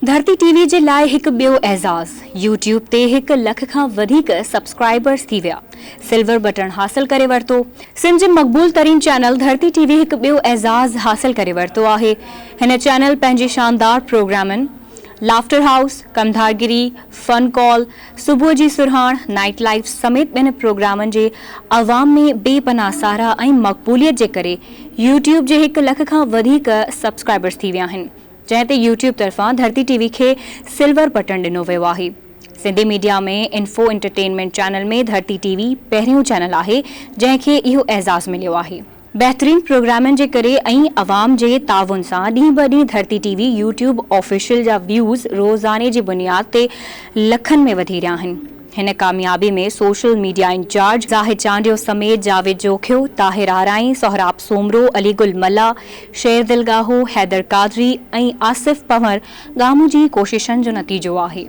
Dharti T V جي لاء هڪ ٻيو اعزاز، يوٽيوب تي هڪ لک کان وڌيڪ سبسڪرائبرز ٿي ويا، سلور بٽڻ حاصل ڪري ورتو. سنڌ جي مقبول ترين چينل ڌرتي ٽي وي هڪ ٻيو اعزاز حاصل ڪري ورتو آهي، هن چينل پنهنجي شاندار پروگرامن لافٽر هائوس، ڪمڌارگري، فن ڪال، صبح جي سرهاڻ، نائيٽ لائيف سميت ٻين پروگرامن جي عوام ۾ بي پناهه ساراهه ۽ مقبوليت جي ڪري يوٽيوب جي هڪ لک کان وڌيڪ سبسڪرائبرز ٿي ويا آهن. جنهن تي يوٽيوب طرفان ڌرتي ٽي وي کي سلور بٽڻ ڏنو ويو آهي. Sindhi media ۾ info entertainment channel ۾ Dharti T V پهريون چينل آهي جنهن کي اهو اعزاز مليو آهي. بهترين پروگرامن جي ڪري ۽ عوام جي تعاون سان ڏينهن به ڏينهن Dharti T V YouTube official جا ويوز روزاني جي بنياد تي لکن ۾ وڌي رهيا آهن. هن ڪاميابي ۾ social media incharge Zahid Chandio سميت جاويد جوکيو، طاهر آرائين، سهراب سومرو، علي گل ملاح، شيردل ڳاهو، حيدر قادري ۽ آصف پنور ڳامو جي ڪوششن جو نتيجو آهي.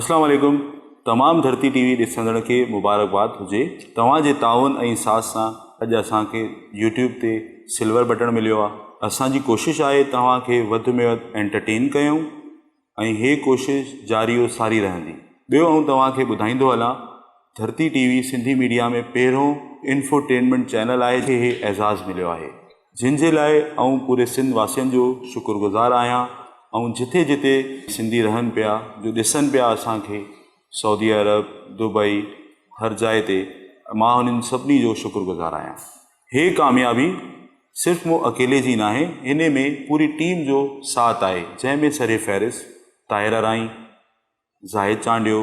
اسلام عليڪم تمام ڌرتي ٽي وي ڏسندڙن کي مبارڪباد هجي توهان جي تعاون ۽ ساٿ سان اڄ اسان کي يوٽيوب تي سلور بٽڻ مليو آ اسان جي ڪوشش آهي توهان کي وڌ ۾ وڌ انٽرٽين ڪيون. ۽ هي ڪوشش جاري و ساري رهندي. ٻيو آئون توهان کي ٻڌائيندو هلان Dharti T V Sindhi media ۾ پهريون انفوٽينمينٽ چينل آهي جنهن کي هي اعزاز مليو آهي جنهن جي لاء آئون پوري سنڌ واسين جو شڪر گذار آهيان آئون جتي جتي سنڌي رهن پيا جو ڏسن پيا اسان کي سعودي عرب دبئي هر جاء تي مان انهن سڀني جو شڪر گذار آهيان. هيء ڪاميابي صرف مون اڪيلي جي ناهي، انهي ۾ پوري ٽيم جو ساٿ آهي، جنهن ۾ سرفهرست طاهره رائين، زاهد چانڊيو،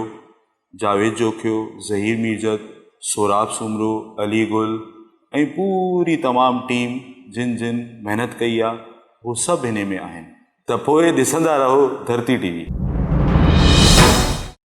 جاويد جوکيو، ظهير ميرجت، سهراب سومرو، علي گل ۽ پوري تمام ٽيم جن جن محنت ڪئي آهي، هو سڀ انهي ۾ آهن. ته پوء ڏسندا رهو ڌرتي ٽي وي.